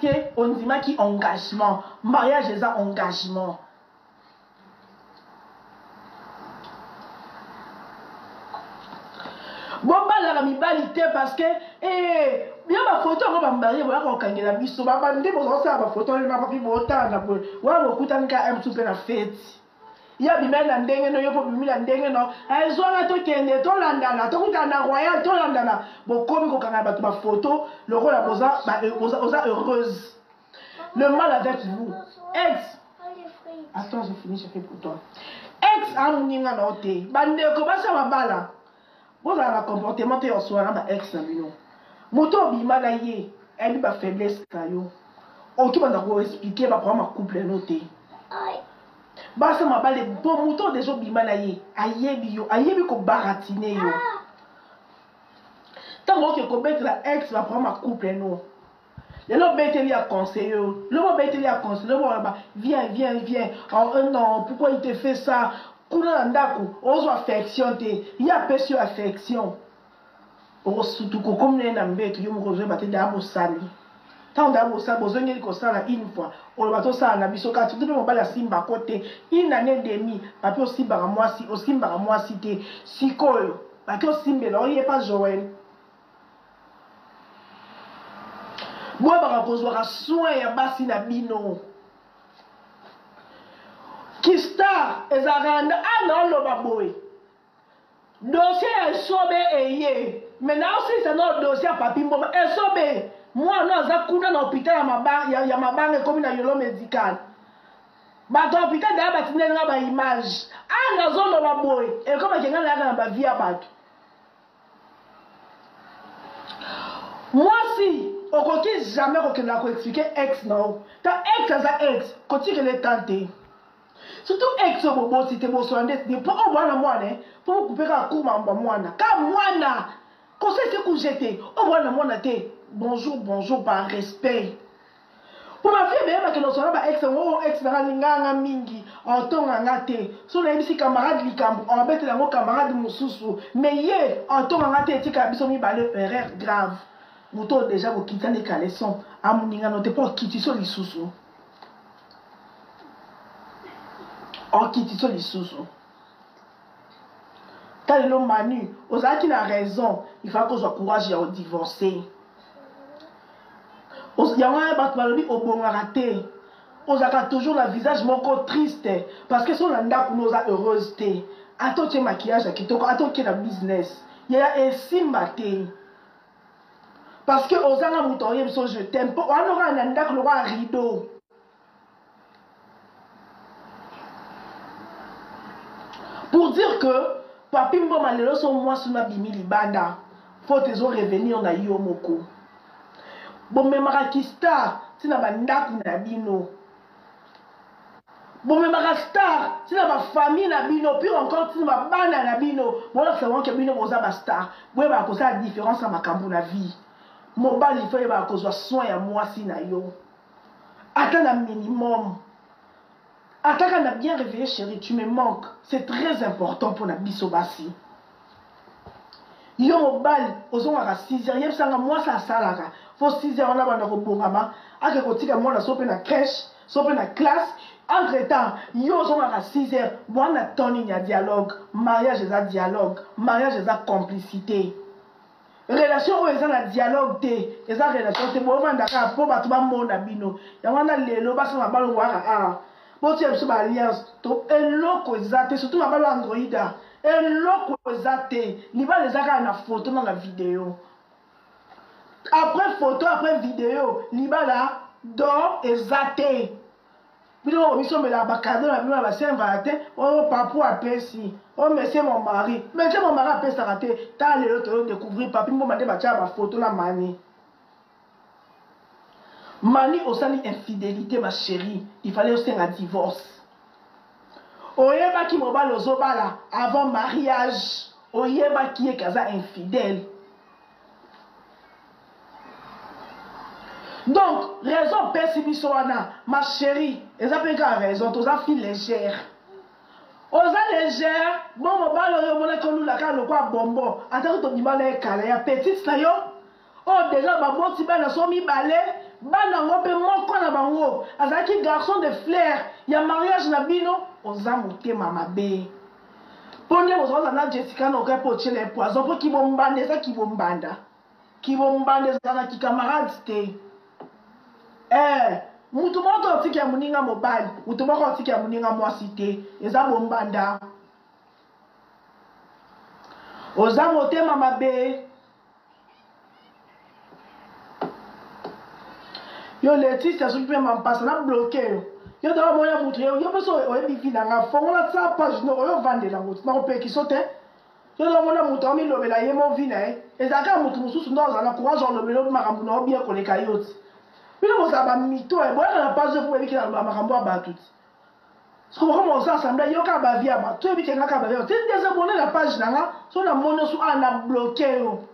que ondimaki engagement mariage eza engagement bobalaka mibali te parce que eh, bia bafoto yango bambarie boyaka kokangela biso babandi bozakosala bafoto na bapi botala na boye wana bokutani ka mtu mpe na feti ye abimeli na ndenge no ye mpe obimi na ndenge no ezwanga eh, tokende tolandana tokutana na royal tolandana bokomi kokangana bato bafoto lokola boza eh, heureuse le mal avec vous ex attends je finis je fais pour toi ex amoninga na yo te bandeko basi ya mabala bozala na comportement te ya osola na ba ex na bino moto obima na ye ayebi ba faiblesse na yo okibanda koexplike baprograme ya couple no te basa mabale mpo moto oyo deja obima na ye ayebi yo ayebi kobaratine yo ntango oke kobetela ex baprograme ya couple no lelo obeteli ya conseil yo lobo obeteli ya conseil lobo wana ba viens viens viens oh, euh, non pourquoi il te fait ça kuna na ndako ozwa affection te ye apesi yo affection okosutuka okomi naye na mbeto yo moko ozoyeba te daa bosali ntango daa bosali bozongeli kosala une fois oloba tosala na biso kati nde mpe mobali asimbako te une année demi bape osimbaka mwasi osimbaka mwasi te sikoyo bake osimbela oyepa joel boyebaka kozwaka soin ya basi na bino kistar ezalaka na ah, naoloba boye dosie ya esobe eye me naosilisa nao dosie ya papi mboma esobe mwana aza kuna na hopital ya mabanga, ya, ya mabanga ekomi na yolo medical bato ya hopital daya batindeli nga baimage aa ah, nazoloba boye ekomaki nga nayaka na bavie ya bato mwasi okoki jamais kokendaka koexplike ex na yo ta ex aza ex kotikela etan te surtout ex oyo boboti te bosola nde te mpo oyo mwana mwana mpo bokupe kaka cour mambo ya mwana ka mwana kosese kujete oyo mwana mwana te bonjour bonjour par respect mpo bafie beyeba kende ozala ba ex yango oh, ex nanga alingaka nga mingi otonga nga te so nayebisi camarade likambo obetela yango camarade mosusu mais ye otonga nga te etikala biso mibale erreur grave moto oyo deja bokitani caleson amoningano te mpo okitiso lisusu okitiso lisusu kalelo manu ozalaki na raison ifai kozwa courage ya odivorce yango wana bato balobi obongaka te ozalaka toujours na visage moko triste parce que sona ndako no oza heureuse te ata otie makillage ya kitoko ata okie na business yaya esimba te parce que ozanga moto aoyebi so je t'aime mpo wana okaka na ndako lokola rideau pour dire que papi mboma lelo so mwasi na bimi libanda faute ezo revenir na yo moko bomemaka kistar ntina bandako na bino bomemaka star ntina bafamille na bino pire encore ntina babana na bino bolakisa bango ke bino boza bastar boyebaka kosala différence ya makambo na vie mobali fo yebaka kozwa soin ya mwasi na yo ata na minimum ataka na bien réveillé chéri tu me manque c'est très important mpona biso basi yo mobali ozongaka 6 heures yebisanga mwasi asalaka fo 6 heures wana banda kobongama ake kotika mwana so mpe na crèche so mpe na classe entre temps yo ozongaka 6 heures bwana tonini ya dialogue mariage eza dialogue mariage eza complicité relation oyo eza na dialogue te eza relation te bovanda kaka mpo bato bamona bino yango wana lelo basala na balo waka awa ah, botia biso baalliance to eloko eza te surtout na balo androida eloko eza te libala eza kaka na foto na na video après foto après video libala don eza te bino oyo bisombelaka bakado na bino na basaint valentin oyo oh, papu apesi oyo oh, mesie mon mari mesie mon mari apesaka te ta lelo toyo découvrir papi mboma nde batyaka bafoto na mani mani osali infidélité ma chérie il fallait osenga divorce oyebaki mobali ozobala avant mariage oyebaki ye kaza infidèle donc raison opesi biso wana ma chérie eza mpe kaka raison toza fi légère oza légère bo mobali oyo omonaki olula kaka lokwa bombo atako tobima na ye kala ya petite na yo oyo deja baboti bana so mibale bana yango mpe moko na bango azalaki garçon de flair ya mariage na bino oza motema mabe mpo nde bozokoza na jessica na okai mpo otyela ye poison mpo kibombanda eza kibombanda kibombanda ezala na kikamarade te eh, moto moko to otiki ya moninga mobali moto moko otiki ya moninga mwasi te eza bombanda oza motema mabe yo leticia soki mpe mampasa na bloke yo yo ntango omona moto yo mpe so oyebi vi na nga fongola sa page no oyo ovandela moto nakopekisa te yo lomona moto amilobela ye mo vi na ye ezala kaka moto mosusu nde ozala na courage olobela obi makambo na yo bien koleka yo ti bino bozala bamito e boyaka na page po boyebi kaka makambo ya bato ti soko bokoma oza assemble yo kaka bavi ya bato toyebi kenga kaka bavi ya bato ti ndeza bone na page na nga so na moni osu a na bloke yo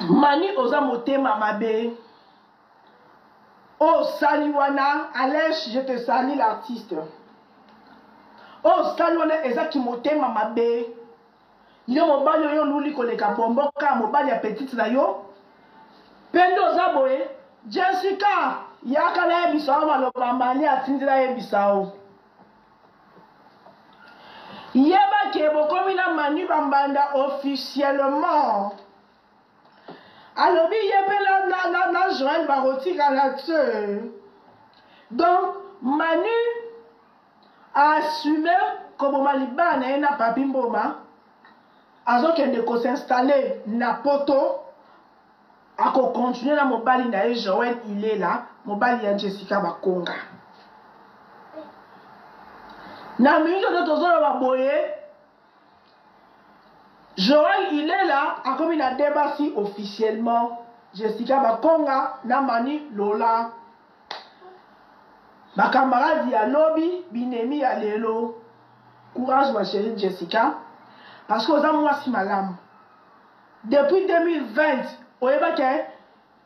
mani oza motema mabe Oh Saliwana, Alesh, je te salue l'artiste. Oh Saliwana, eza kimotema mabe. Yo mobali oyo luli koleka bomboka mobali ya petite na yo. Pende oza boye, Jessica, yaka na yebisa yo maloba mani atindi na yebisa yo. Yeba ke bokomi na Manu Bambanda officiellement. alobi ye mpe na, na, na, na joel bakotikala te donc manu aassume koboma libala na ye na papi mboma azokende kosinstalle na poto akokontinue na mobali na ye joel ilela mobali ya jessica bakonga na mingi oyo tozoloba boye Joël Ilela akomi na deux basi officiellement Jessica Bakonga na Mani Lola ba camarades ya lobi binemi ya lelo courage ma chérie Jessica parce que oza mwasi malamu depuis 2020 oyebaki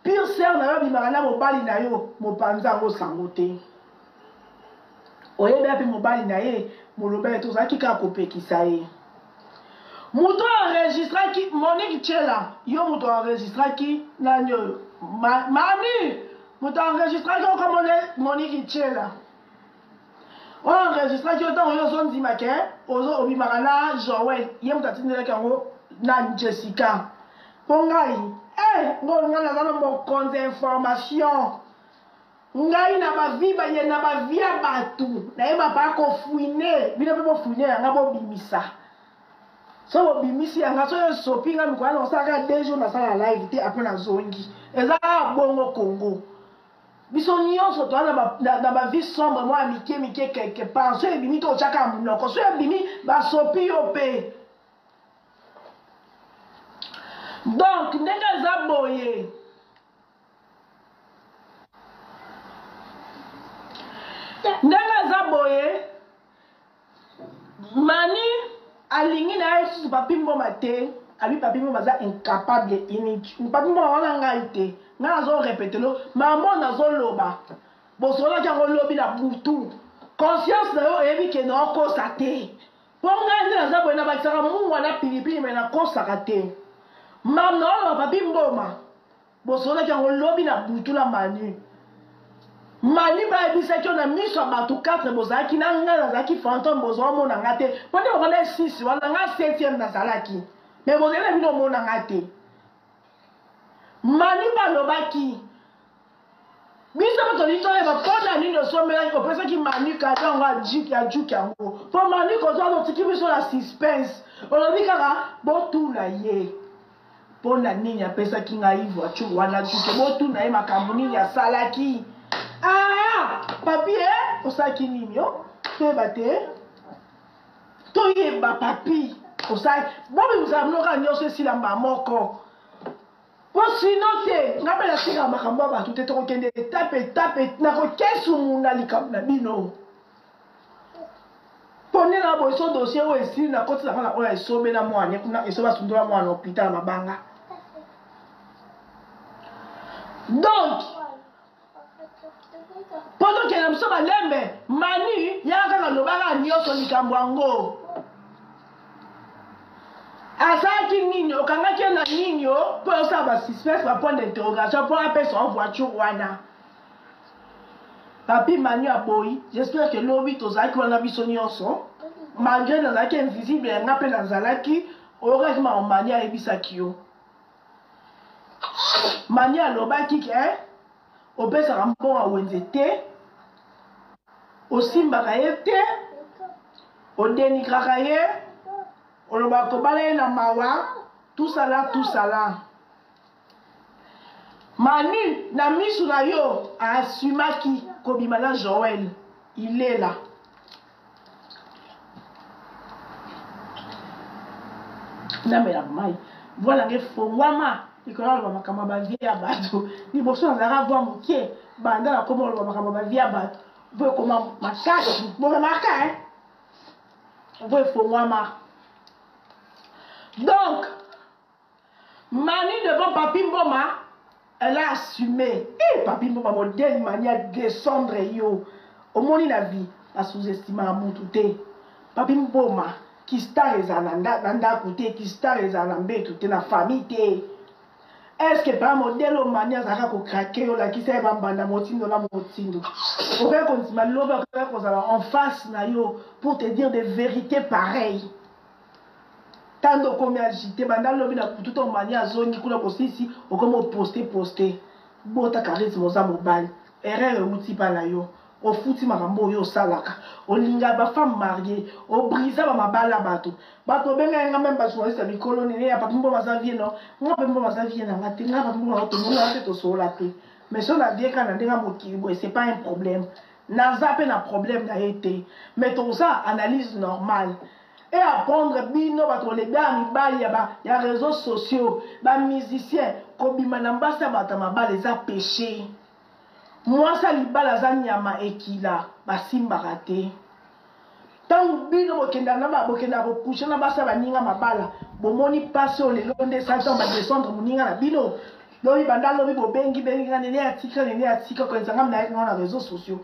Pire sœur na yo abimaka na mobali na yo mopanzi yango sango te. Oyebi api mobali na ye molobele te ozalaki kaka kopekisa ye. Moto oyo enregistraki Monique Chela yo moto enregistraki nani oyo ma, mami moto enregistraki okomona Monique Chela oyo enregistraki yo ntango yo ozondima ke obimaka na joel ye moto atindelaki yango na jessica mpo ngai eh, ngolo ngai naza na mokonzi ya information ngai na bavi baye na bavi ya bato nayeba baa kofuine bino mpe bofuine yanga bobimisa so bobimisi yanga soki esopi ngai mikolo na osalaka deux jours nasala live te apres nazongi eza bongo kongo biso nyonso toza na bavie sombre mwa ya mike mike quelque part soki ebimi to otyaka ya monoko soki ebimi basopi yo mpe donk ndenge eza boye ndenge eza boye mani alingi na ye lisusu papi mboma te abi papi mboma aza incapable unique papi mboma wana ngai te ngai nazorepetelo mamo nazoloba bosololaki yango lobi na butu conscience na yo oyebi ke na okosa te mpo ngai nde naza boye nabakisaka mungwa na pilipili me nakosaka te mam naoloba papi mboma bosololaki yango lobi na butu na mani mani bayebisaki yo na miso ya bato 4 bozalaki na ngai nazalaki fantome bozwa omona ngai te mpo nde bokanda esisi wana ngai septième nazalaki me bozali na bino omona ngai te mani balobaki biso mpe tolingi toyeba mpo na nini osombelaki opesaki mani kado yango ya juki yango mpo mani kozwa otiki biso na suspense olobi kaka botuna ye mpo na nini apesaki ngai voiture wana tuke botuna ye makambo nini asalaki aa papie osalaki nini yo toyeba te toyeba papi osali bobi bozala mnoka nyonso esila mba moko mpo sino te ngai mpe natikaka makambo ya bato te tokokende etape etape nakokesumuna likambo na bino ponela boye so dossier oyo esili na koti na bana oyo esobela mwana ye kuna esobe asundola mwana na hôpital ya mabanga donc mpo tokenda biso balembe mani yaka kaka lobaka nyonso likambo yango azalaki nini okangaki ye na nini o mpo osala basuspece bapoint d'interrogation mpo apesa o voiture wana papi mani aboyi j'espère que lobi tozalaki wana biso nyonso malgré nazalaki invisible yanga mpe nazalaki oyokaki mama mani ayebisaki yo mani alobaki ke eh, opesaka mbongo ya wenze te osimbaka ye te odenigraka ye olobaka kobala ye na mawa tusala tusala Manu na misu na yo a assumaki kobima na Joël ilela namela mai voix nanga efongwama likolo naloba makambo ya bavie ya bato liboso nazalaka voix moke banda nakoma koloba makambo ya bavie ya bato vo ekoma makasi bokamaka e vo efongwama donc Mani devant Papi Mboma, elle a assumé. Eh, Papi Mboma, modèle Mani a descendre yo. Omoni na vie, ba sous-estima à mutu te. Papi Mboma, qui star ezala na ndako te, qui star ezala na mbetu te, na famille te. Est-ce que par modèle au Mani azalaka ko craquer yo lakisa ye ba mbanda motindo na motindo. Okoki kondima loba okoki kozala en face na yo pour te dire des vérités pareilles. tando okomi agite banda lobi na kutu to mani azongi kuna kosisi okomi oposte poste bota charisme oza mobali erreur euti mpa na yo ofuti makambo oyo osalaka olinga bafemme marie obrisa bamabala bato bato obenga yanga meme bajournaliste ya mikolo nene ya papimbo baza vie no nga papimbo baza vie na nga te nga papimbo na tomonaa te tosoola te mais so nadieka na ndenge mokili boye c'est pas un problème naza mpe na problème na ye te mais toza analyse normale et apprendre bino bato koleba ya mibali ya, ba, ya réseaux sociaux bamusicien kobima na mbasi ya bato ya mabala eza péché mwasi ya libala aza nyama ekila basimbaka te ntango bino bokenda na ba bokenda kokusha na basi ya baninga mabala bomoni mpasi oyo lelo nde esali ntango badescendre moninga na bino lobi banda lobi bobengi bengi nga nene ya tika nene ya tika koyenzanga minayaki ngo na réseaux sociaux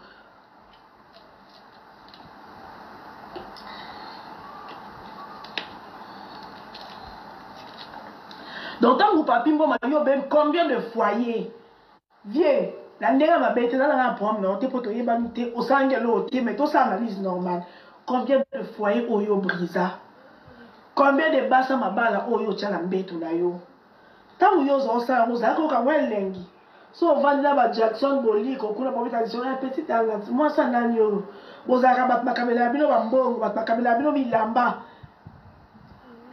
donc ntango papi mboma yo obebi combien de foyer vie na ndenge ya mabe te ezalaka na problème nao te mpo toyebani te osangi eloo te mais tosala analyse normale combien de foyer oyo brisa combien de basa mabala oyo otya na mbeto na yo ntango yo oza osala yango ozalaki koyoka mwa elengi so ovandi na bajackson boliko kuna bobeta lisolo ya petit talent mwasi anani oyo bozalaka bato bakabela ya bino bambongo bato bakabela ya bino bilamba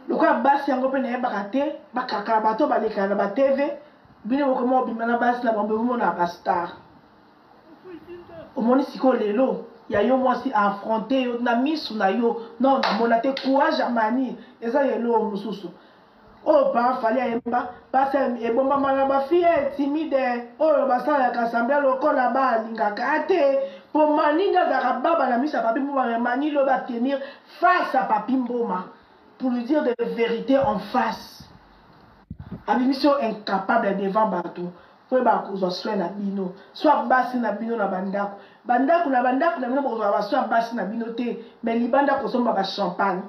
lokola basi yango mpe nayebaka te bakaka bato balekana na batv bino bokoma obima na basi na bango bomona bastar omoni sikoyo lelo ya yo mwasi affronte yo na misu na yo non namona te courage ya mani eza ya eloo mosusu oyo pa fali ayemba pasi ebombama na bafiye timide oyo basalaka sambla lokola balingaka te mpo maninga azalaka baba na miso ya papi mboma me mani lobi atenir face ya papi mboma pour lui dire de vérité en face abimisi yo incapable devant bato mpo yeba kozwa soin na bino so basi na bino na bandako bandako na bandako na bino bokozwa basoi ya basi na bino te me libanda kosomba bachampagne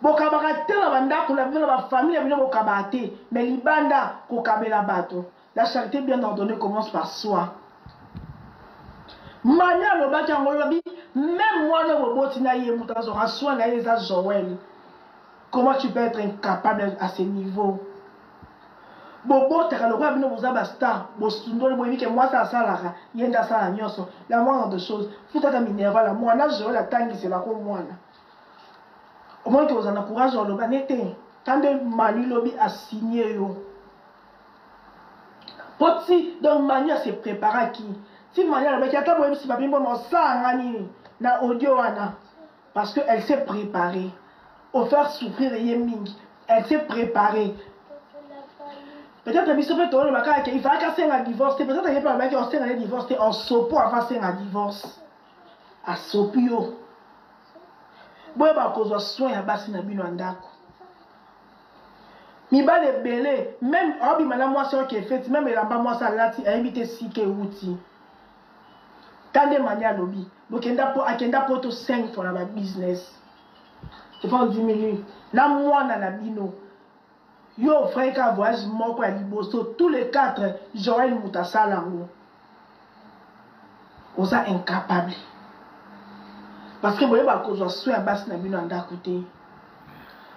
bokabaka te na bandako na bino na bafamille ya bino bokabaka te mais libanda kokabela bato la charité bien ordonnée commence par soi mani alobaki yango olobi meme mwana boboti na ye moto azwaka soin na ye eza joel comment tu peux être incapable à ce niveau bobotaka lokola bino boza bastar bosundoli boyebi ke mwasi asalaka ye nde asala nyonso la moindre de chose futata minerval mwana joel atangiselako mwana omoni te ozala na courage ya oloba ne te kambe manu lobi asigne yo mpo ti donc manu ase préparaki ti manu alobaki ata boyebisi papi mboma osala nga nini na audio wana parce que elle s'est préparée ofaire souffrir ye mingi elle s'est préparée peut-être biso mpe tolobaka ke ifalaki asenga divorce te peut-être ye mpe alobaki osenga ye divorce te en sopo afa asenga divorce asopi yo boyeba kozwa soin ya basi na bino ya ndako mibali ebele meme aobima na mwasi oyo kefeti meme elamba mwasi alati ayebi te sika ewuti ta nde mani alobi bokenda po akenda poto 5 fois na babusiness epa ondimini na mwana na bino Yo vrai ka voyage moko ya liboso tous les quatre Joël moto asala yango. Oza incapable. Parce que boye bakozwa soin ya basi na bino ya ndako te.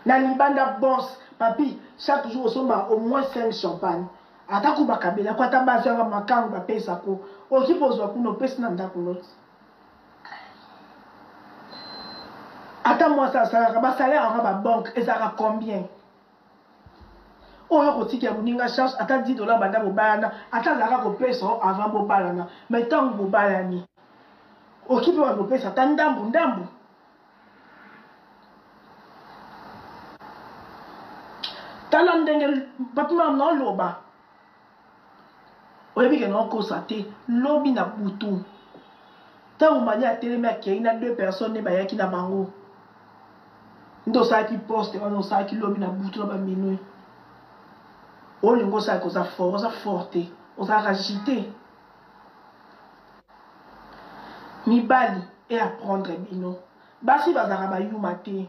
Na libanda boss papi chaque jour osomba au moins 5 champagne. Ata ko bakabela ko ata basi ya makango bapesa ko. Okipe ozwa kuna opesi na ndako noti. ata mwasi asalaka basalere yango ya babanke ezalaka combien oyo okotika ya moninga charge ata 10 dolar banda bobalana ata azalaka kopesa o avant bobalana ma ntango bobalani oki mpe bana kopesa ata ndambu ndambu tala ndenge papimam naoloba oyebi ke naokosa te lobi na butu ntango mani atelemi akei na deux personnes nde bayaki na bango nde osalaki poste wana osalaki lobi na butu na baminui olingi osalaki oza fort oza fort te ozalaka jite mibali e apprendre bino basi bazalaka bayuma te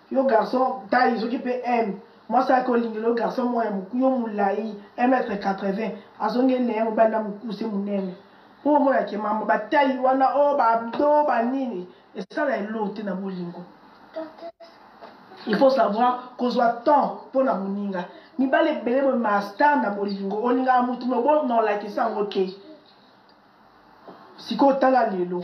yo garçon taille soki mpe m mwasi ayaki olingela yo garçon moko ya moku yo molai 1 mètre 80 azongi ene ya mobali na mokuse monene mpo omona ke mama batai wana o oh, babdo banini esala elo te na bolingo il faut savoir kozwa temps mpo na moninga mibali ebele boye master na bolingo olingaka motu mobonolakisa yango te sikoyo tala lelo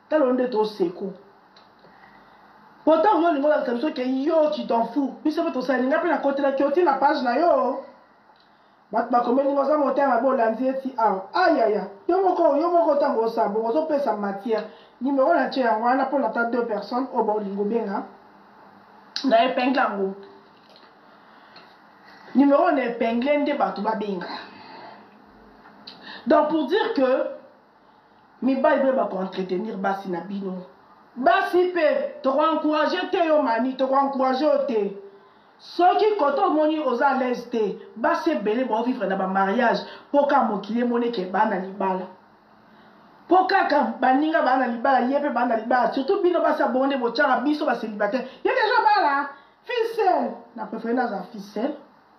talo nde to seko pourtant yo olingi olakisa biso ke yo tu t'en fou biso mpe tosali nga mpe nakotelaki oti na page na yo bato bakomeli nga oza motema mabe olandi eti awa ayaya yo moko yo moko ntango osa bongo ozopesa matière nimero na tie yango wana mpo na ta deux personnes oyo baolingo benga na epingle yango nimero na epingle nde bato babenga donc pour dire que mibali mpe bakoentretenir basi na bino basi mpe tokoencourage te yo mani tokoencourage yo te soki koto omoni oza alaise te basi ebele baovivre na bamariage mpo kaka mokili emoni eke baa na libala mpo kaka baninga baa na libala ye mpe baa na libala surtout bino basi abongo nde botyaka biso baselibataire ye deja bala ficel na prefere naza ficel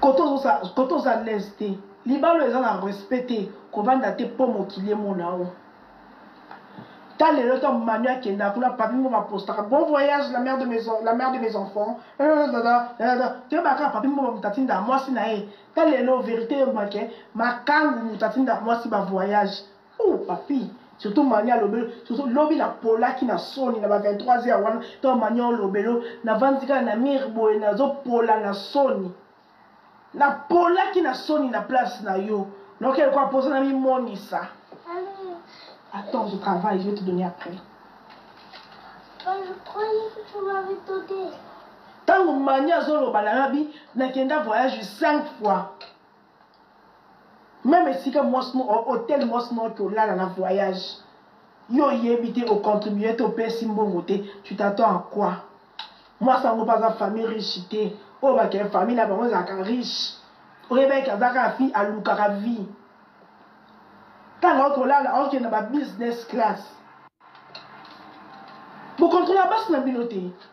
koto oza lese te libalo eza na respect te kovanda te mpo mokili emona yo ta lelo to manu akenda kuna papi mbo bapostaka bon voyage la mère de mes, la mère de mes enfants toyebaka papi mbo moto atinda mwasi na ye ta lelo verité eyebake makangu moto atinda mwasi bavoyage Oh, papi, surtout mania lobelo, surtout lobi na polaki na soni na ba 23 heures wana, to mania lobelo, na vandi kaka na mire boye na zo pola na soni. Na polaki na soni na place na yo. Donc elle quoi poser na mi monisa. Attends, je travaille, je vais te donner après. Bah, je croyais que tu m'avais donné. Tango mania zolo balabi, na kenda voyage 5 fois. meme esika mwasi moko hotel mwasi moko te olala na voyage yo oyebi te ocontribue te opesi mbongo te tu t'attends à quoi mwasi yango mpe aza famille riche te oyo bakee famille na bango ezalaka riche oyebaki aza kaka fille alukaka vie ntango akolala aokende na ba business class bokontrola basi na bino te